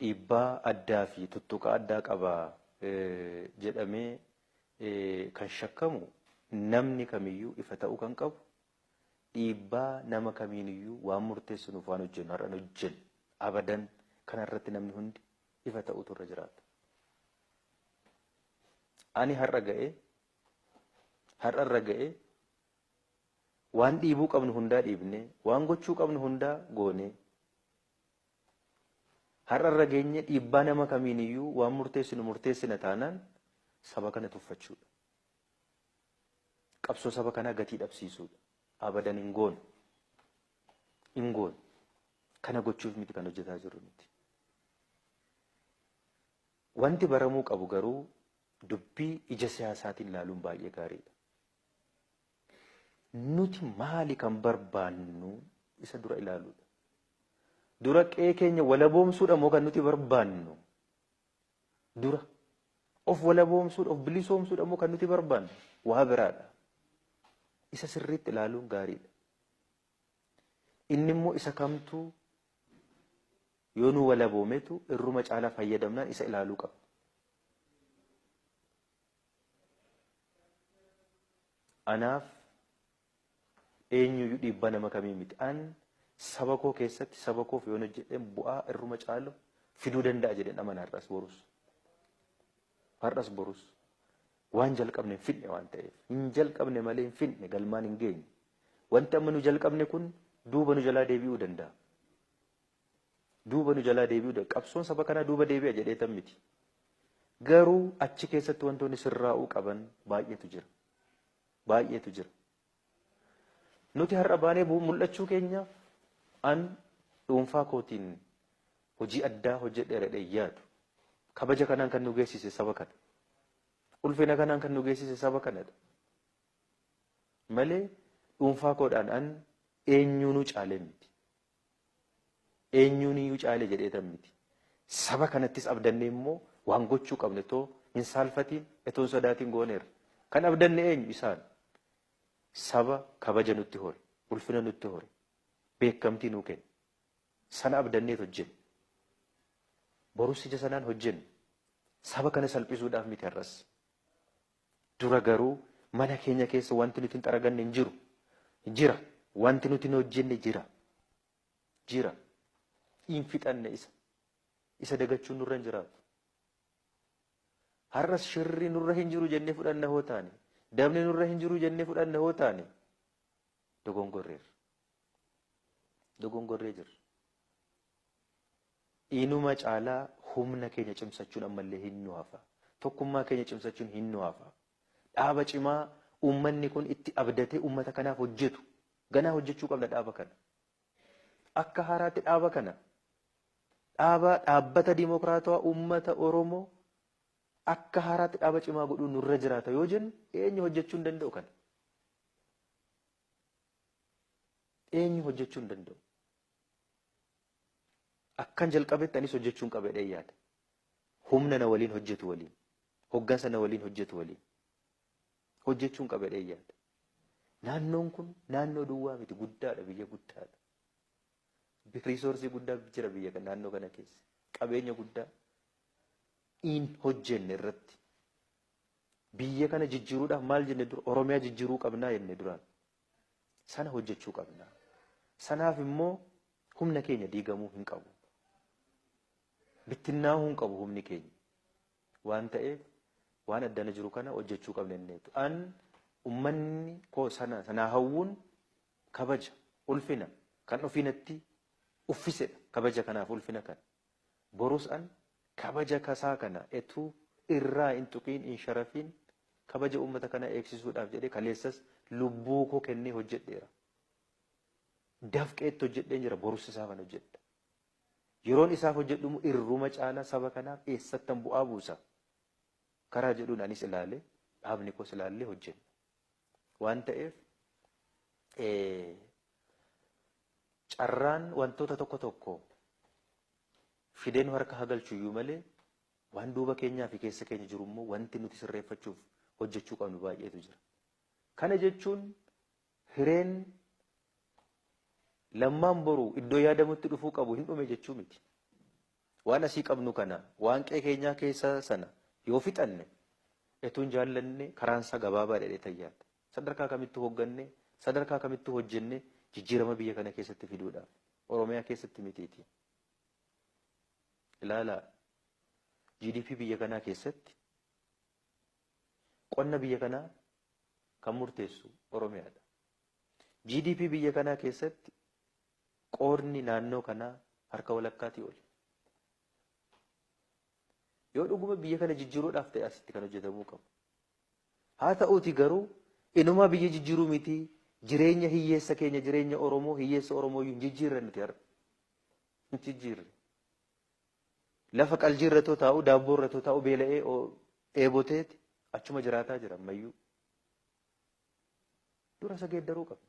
dhiibbaa addaa fi tuttuqaa addaa qaba jedhamee kan shakkamu namni kamiyyuu ifa ta'uu kan qabu dhiibbaa nama kamiiniyyuu waan murteessinuuf waan hojjennu har'an hojjennu abadan kana irratti namni hundi ifa ta'uutu irra jiraata. Ani har'a ga'ee har'a irra ga'ee waan dhiibuu qabnu hundaa dhiibnee waan gochuu qabnu hundaa goonee Har'a irra geenye dhiibbaa nama kamiin iyyuu waan murteessinu murteessina taanaan saba kana tuffachuudha. Qabsoo saba kanaa gatii dhabsiisuudha. Abadan hin goonu. Hin goonu. Kana gochuuf miti kan hojjetaa jirru nuti. Wanti baramuu qabu garuu dubbii ija siyaasaatiin laaluun baay'ee gaariidha. Nuti maali kan barbaannu isa dura ilaaluudha. Dura qe'ee keenya walaboomsuudha moo kan nuti barbaannu? Dura of walaboomsuudha, of bilisoomsuudha moo kan nuti barbaannu? Waa biraadha. Isa sirriitti ilaaluun gaariidha. Inni immoo isa kamtu yoo nu walaboometu irruma caalaa fayyadamnaan isa ilaaluu qabna. Anaaf eenyuyyuu dhiibbaa nama kamii miti. An saba koo keessatti saba koof yoon hojjedheen bu'aa irruma caalu fiduu danda'a jedheen amana har'as borus. Har'as borus waan jalqabne hin fidne waan ta'eef hin jalqabne malee hin fidne galmaan hin geenye. Wanti amma nu jalqabne kun duuba nu jalaa deebi'uu danda'a. duuba nu jalaa deebi'uu danda'a. Qabsoon saba kanaa duuba deebi'a jedheetan miti. Garuu achi keessatti wantoonni sirraa'uu qaban baay'eetu jira. Baay'eetu jira. Nuti har'a baanee bu- mul'achuu keenyaaf an dhuunfaa kootiin hojii addaa hojjedheera jedhee yaadu. Kabaja kanaan kan nu geessise saba kana. Ulfina kanaan kan nu geessise saba kanadha. Malee dhuunfaa koodhaan an eenyuunuu caalee miti. Eenyuuniyyuu caale jedheetan miti. Saba kanattis abdannee immoo waan gochuu qabne otoo hin saalfatiin, otoo hin sodaatiin gooneerra. Kan abdanne eenyu? Isaan. Saba kabaja nutti hore, ulfina nutti hore, beekamtii nuu kenne. Sana abdanneet hojjenne. Borus ija sanaan hojjenna. Saba kana salphisuudhaaf miti har'as. Dura garuu mana keenya keessa wanti nuti hin xaraganne hin jiru. Jira. Wanti nuti hin hojjenne jira. Jira. Hin fixanne isa. Isa dagachuun nurra hin jiraatu. Har'as shirri nurra hin jiru jennee fudhanna hoo taane, dabni nurra hin jiru jennee fudhanna hoo taane, dogongorreerra. Dogongorree jirra. Inuma caalaa humna keenya cimsachuun ammallee hin nu hafa. Tokkummaa keenya cimsachuun hin nu hafa. Dhaaba cimaa uummanni kun itti abdatee uummata kanaaf hojjetu ganaa hojjechuu qabna dhaaba kana. Akka haaraatti dhaaba kana dhaaba dhaabbata dimokiraatawaa uummata Oromoo akka haaraatti dhaaba cimaa godhuu nurra jiraata yoo jennu eenyu hojjechuu hin danda'u kana? Eenyu hojjechuu hin danda'u? Akkan jalqabetti anis hojjechuun qaba jedheen yaada. Humna na waliin hojjetu waliin, hoggansa na waliin hojjetu waliin hojjechuun qaba jedheen yaada. Naannoon kun naannoo duwwaa miti guddaadha biyya guddaadha. Riisoorsii guddaa jira biyya kan naannoo kana keessa. Qabeenya guddaa in hojjenne irratti biyya kana jijjiiruudhaaf maal jenne dura Oromiyaa jijjiiruu qabnaa jenne duraan Sana hojjechuu qabna. Sanaaf immoo humna keenya diigamuu hin qabu. Bittinnaa'uu hin qabu humni keenya. Waan ta'eef waan addana jiru kana hojjechuu qabna jenneetu. An ummanni koo sana sanaa hawwuun kabaja ulfina kan ofiinatti uffisedha. Kabaja kanaaf ulfina kan. Borus an kabaja kasaa kana etuu irraa in tuqiin in sharafiin kabaja uummata kanaa eegsisuudhaaf jedhee kaleessas lubbuu koo kennee hojjedheera. Dafqeetti hojjedheen jira borus isaafan hojjedha. Yeroon isaaf hojjedhu immoo irruma caalaa saba kanaaf eessattan bu'aa buusa karaa jedhuun anis ilaalee dhaabni koos ilaallee hojjenna. Waan ta'eef carraan wantoota tokko tokko fidee nu harka hagalchu iyyuu malee waan duuba keenyaa fi keessa keenya jiru immoo wanti nuti sirreeffachuuf hojjechuu qabnu baay'eetu jira. Kana jechuun hireen lammaan boru iddoo yaadamutti dhufuu qabu hin dhume jechuu miti. Waan asii qabnu kana waan qe'ee keenyaa keessa sana yoo fixanne etuun jaallanne karaan isaa gabaabaa dheedhee tayyaadha. Sadarkaa kamittu hogganne, sadarkaa kamittu hojjenne jijjiirama biyya kana keessatti fiduudhaaf. Oromiyaa keessatti mitiiti. Ilaalaa, GDP biyya kanaa keessatti qonna biyya kanaa kan murteessu Oromiyaadha. GDP biyya kanaa keessatti qoodni naannoo kanaa harka walakkaatii oli. Yoo dhuguma biyya kana jijjiiruudhaaf ta'e asitti kan hojjetamuu qabu. Haa ta'uutii garuu inumaa biyya jijjiiruu miti jireenya hiyyeessa keenya jireenya Oromoo hiyyeessa Oromoo iyyuu hin jijjiirre nuti har'a. Hin jijjiirre. Lafa qaljii irratoo taa'u daabboo irratoo taa'u beela'ee dheeboteeti achuma jiraataa jira ammayyuu. Dura isa geeddaruu qabna.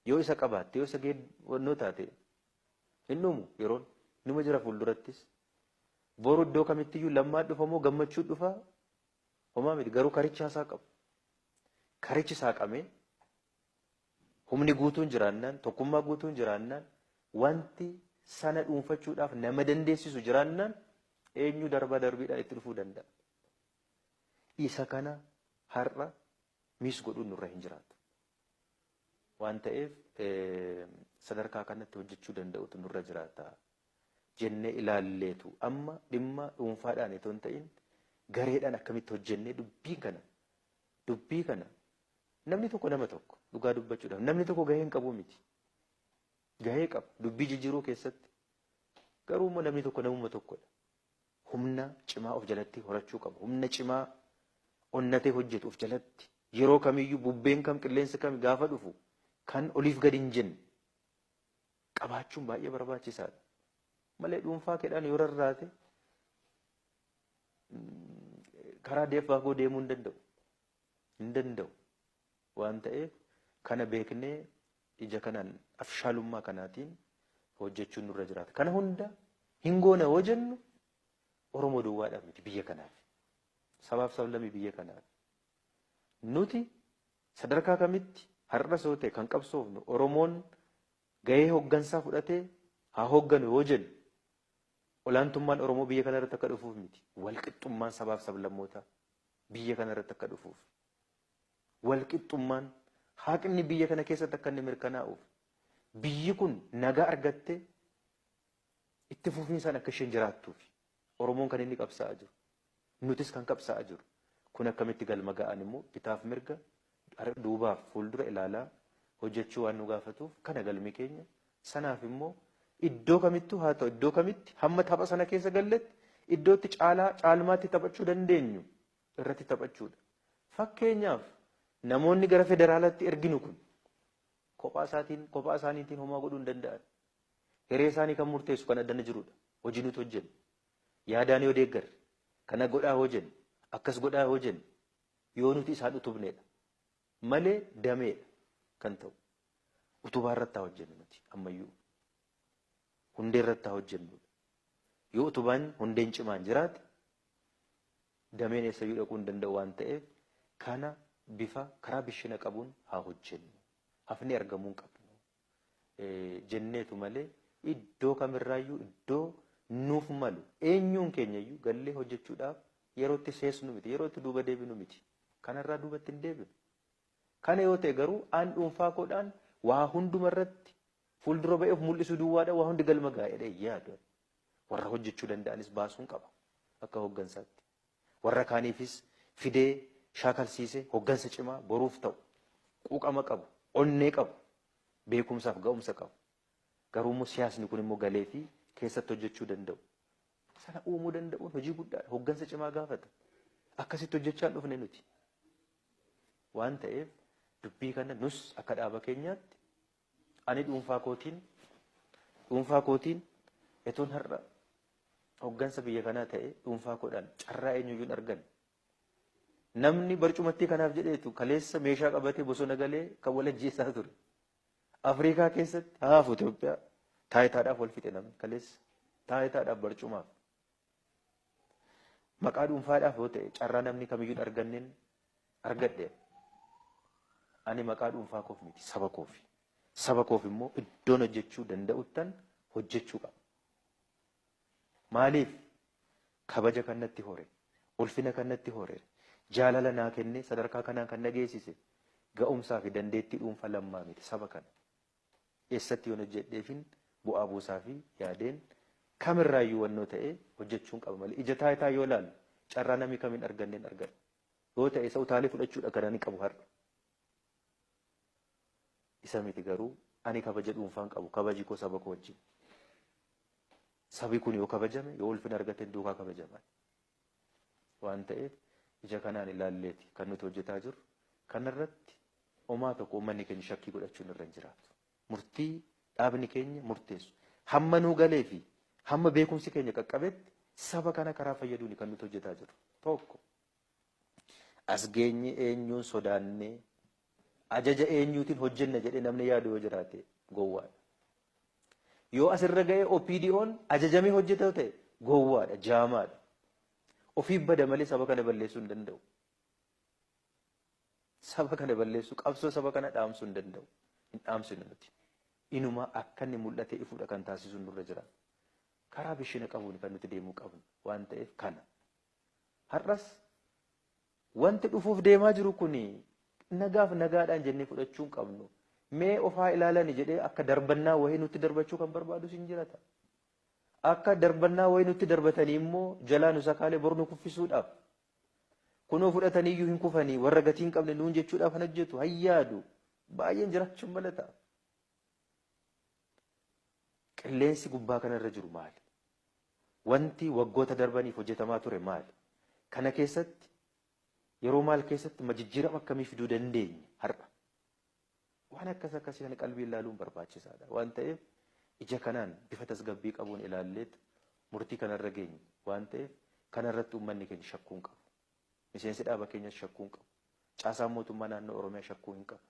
Yoo isa qabaatte, yoo isa geed wannoo taate hin dhumu yeroon. Numa jira fuuldurattis. Boru iddoo kamittiyyuu lammaa dhufa moo gammachuu dhufa homaa miti garuu karichaa isaa qabu. Karichi saaqamee humni guutuun jiraannaan, tokkummaa guutuun jiraannaan, wanti sana dhuunfachuudhaaf nama dandeessisu jiraannaan eenyu darbaa darbiidhaan itti dhufuu danda'a. Isa kana har'a miis godhuun nurra hin jiraatu. waan ta'eef sadarkaa kanatti hojjechuu danda'utu nurra jiraata jennee ilaalleetu amma dhimma dhuunfaadhaan itoo hin ta'in gareedhaan akkamitti hojjennee dubbii kana dubbii kana namni tokko nama tokko dhugaa dubbachuudhaaf namni tokko gahee hin qabu miti gahee qaba dubbii jijjiiruu keessatti garuu immoo namni tokko namuma tokkodha humna cimaa of jalatti horachuu qaba. Humna cimaa onnatee hojjetu of jalatti yeroo kamiyyuu bubbeen kam qilleensi kam gaafa dhufu kan oliif gadi hin jenne qabaachuun baay'ee barbaachisaadha. Malee dhuunfaa keedhaan yoo rarraate karaa deeffaa koo deemuu hin danda'u. hin danda'u waan ta'eef kana beeknee ija kanaan afshaalummaa kanaatiin hojjechuun nurra jiraata. Kana hunda hin goona yoo jennu Oromoo duwwaadhaaf miti biyya kanaaf. Sabaaf sablammii biyya kanaaf. Nuti sadarkaa kamitti har'a soo ta'e kan qabsoofnu Oromoon gahee hoggansaa fudhatee haa hogganu yoo jennu olaantummaan Oromoo biyya kanarratti akka dhufuuf miti. Walqixxummaan sabaaf sablammootaa biyya kana irratti akka dhufuuf, walqixxummaan, haqni biyya kana keessatti akka inni mirkanaa'uuf, biyyi kun nagaa argattee itti fufiinsaan akka isheen jiraattuuf Oromoon kan inni qabsaa'aa jiru. Nutis kan qabsaa'aa jiru. Kun akkamitti galma ga'aan immoo bitaaf mirga Har'a duubaaf fuuldura ilaalaa hojjechuu waan nu gaafatuuf kana galmi keenya. Sanaaf immoo iddoo kamittuu haa ta'u iddoo kamitti hamma tapha sana keessa galletti iddoo itti caalaa caalmaatti taphachuu dandeenyu irratti taphachuudha. Fakkeenyaaf namoonni gara federaalaatti erginu kun kophaa isaatiin kophaa isaaniitiin homaa godhuu hin danda'an. Hiree isaanii kan murteessu kan addana jirudha. Hojii nuti hojjennu. Yaadaan yoo deeggarre kana godhaa yoo jennu akkas godhaa yoo jennu yoo nuti isaan utubneedha malee dameedha kan ta'u. Utubaa irratti haa hojjennu nuti ammayyuu. Hundee irratti haa hojjennu. Yoo utubaan hundeen cimaan jiraate dameen eessayyuu dhaquu hin danda'u waan ta'eef kana bifa karaa bishina qabuun haa hojjennu. Hafnee argamuu hin qabnu. jenneetu malee iddoo kamirraayyuu iddoo nuuf malu eenyuun keenyayyuu gallee hojjechuudhaaf yeroo itti seesnu miti yeroo itti duuba deebinu miti kanarraa duubatti hin deebinu. Kana yoo ta'e garuu aan dhuunfaa koodhaan waa hunduma irratti fuuldura ba'ee of mul'isuu duwwaadha waa hundi galma gaa'edha yaadu warra hojjechuu danda'anis baasuun qaba akka hooggansaatti. warra kaaniifis fidee shaakalsiise hoggansa cimaa boruuf ta'u, quuqama qabu, onnee qabu, beekumsaaf ga'umsa qabu. Garuummoo siyaasni kunimmoo galeefii keessatti hojjechuu danda'u. Sana uumuu danda'uun hojii guddaadha. Hoggansa cimaa gaafata. Akkasitti hojjechaan dhufne nuti. Waan ta'eef dubbii kana nus akka dhaaba keenyaatti Ani dhuunfaa kootiin dhuunfaa kootiin etoon har'a hoggansa biyya kanaa ta'e dhuunfaa koodhaan carraa eenyuyyuu hin arganne. Namni barcumattii kanaaf jedheetu kaleessa meeshaa qabatee bosona galee kan wal ajjeessaa ture. Afrikaa keessatti haafu Itoophiyaa taayitaadhaaf wal fixe namni kaleessa. Taayitaadhaaf barcumaaf. Maqaa dhuunfaadhaaf yoo ta'e carraa namni kamiyyuu hin arganneen argadheera. Ani maqaa dhuunfaa koof miti saba koofi. Saba koof immoo iddoon hojjechuu danda'uttan hojjechuu qaba. Maaliif kabaja kan natti hore, ulfina kan natti hore, jaalala naa kennee sadarkaa kanaan kan na geessise ga'umsaa fi dandeettii dhuunfaa lammaa miti saba kana. Eessatti yoon hojjedheefin bu'aa buusaafi yaadeen kamirraayyuu wannoo ta'e hojjechuun qaba malee ija taayitaa yoo ilaalle carraa namni kam hin arganneen argadha. Yoo ta'e isa utaalee fudhachuudha kan ani qabu har'a. Isa miti garuu ani kabaja dhuunfaan qabu kabaji koo saba koo wajjin. Sabi kun yoo kabajame yoo ulfina argateen duukaa kabajama. waan ta'eef ija kanaan ilaalleeti kan nuti hojjetaa jirru. Kanarratti omaa tokko uummanni keenya shakkii godhachuun irra hin jiraatu. Murtii dhaabni keenya murteessu hamma nuu galee fi hamma beekumsi keenya qaqqabetti saba kana karaa fayyaduuni kan nuti hojjetaa jirru. Tokko as geenye eenyuun sodaannee Ajaja eenyuutiin hojjenna jedhee namni yaadu yoo jiraate gowwaadha. Yoo asirra ga'ee OPDOn ajajamee hojjeta ta'e gowwaadha, jaamaadha. Ofiif bada malee saba kana balleessuu hin danda'u. Saba kana balleessuu, qabsoo saba kana dhaamsuu hin danda'u. Hin dhaamsinu nuti. Inumaa akka inni mul'atee ifuudha kan taasisuun nurra jira. Karaa bishina qabuun kan nuti deemuu qabnu waan ta'eef kana. Har'as Wanti dhufuuf deemaa jiru kuni nagaaf nagaadhaan jennee fudhachuu hin qabnu. Mee of haa ilaalani jedhee akka darbannaa wayii nutti darbachuu kan barbaadus hin jirata. Akka darbannaa wayii nutti darbatanii immoo jalaa nu sakaalee bor nu kuffisuudhaaf kunoo fudhatanii iyyuu hin kufanii warra gatii hin qabne nuun jechuudhaaf kan hojjetu hayyaadu baay'een jiraachuun mala ta'a. Qilleensi gubbaa kana irra jiru maali? Wanti waggoota darbaniif hojjetamaa ture maali? Kana keessatti yeroo maal keessatti ma jijjiirama akkamii fiduu dandeenya har'a? Waan akkas akkasii kana qalbiin ilaaluun barbaachisaadha. Waan ta'eef ija kanaan bifa tasgabbii qabuun ilaalleet murtii kanarra geenye waan ta'eef kanarratti uummanni keenya shakkuu hin qabu. Miseensi dhaaba keenyas shakkuu hin qabu. Caasaan mootummaa naannoo Oromiyaa shakkuu hin qabu.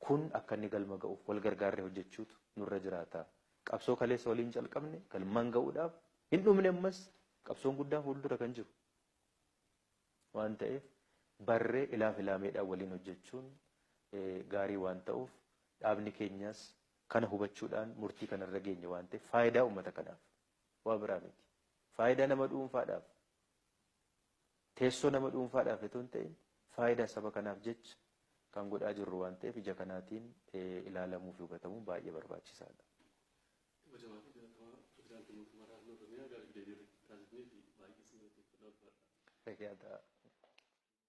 Kun akka inni galma ga'uuf wal gargaarree hojjechuutu nurra jiraata. Qabsoo kaleessa waliin calqabne galmaan ga'uudhaaf hin dhumne ammas qabsoon guddaan fuuldura kan jiru waan ta'eef barree ilaaf ilaameedhaan waliin hojjechuun gaarii waan ta'uuf dhaabni keenyas kana hubachuudhaan murtii kanarra geenye waan ta'eef faayidaa uummata kanaaf waa biraa miti. Faayidaa nama dhuunfaadhaaf Teessoo nama dhuunfaadhaaf itoo hin ta'in faayidaa saba kanaaf jecha kan godhaa jirru waan ta'eef ija kanaatiin ilaalamuu fi hubatamuun baay'ee barbaachisaa dha. Kabajamaa fi Jaalatamaa Pirezidaantii Mootummaa Naannoo Oromiyaa gaaffiif deebii irratti taasifnee fi baay'ee isin galateeffadha ulfaadhaa. Fayyaa ta'aa.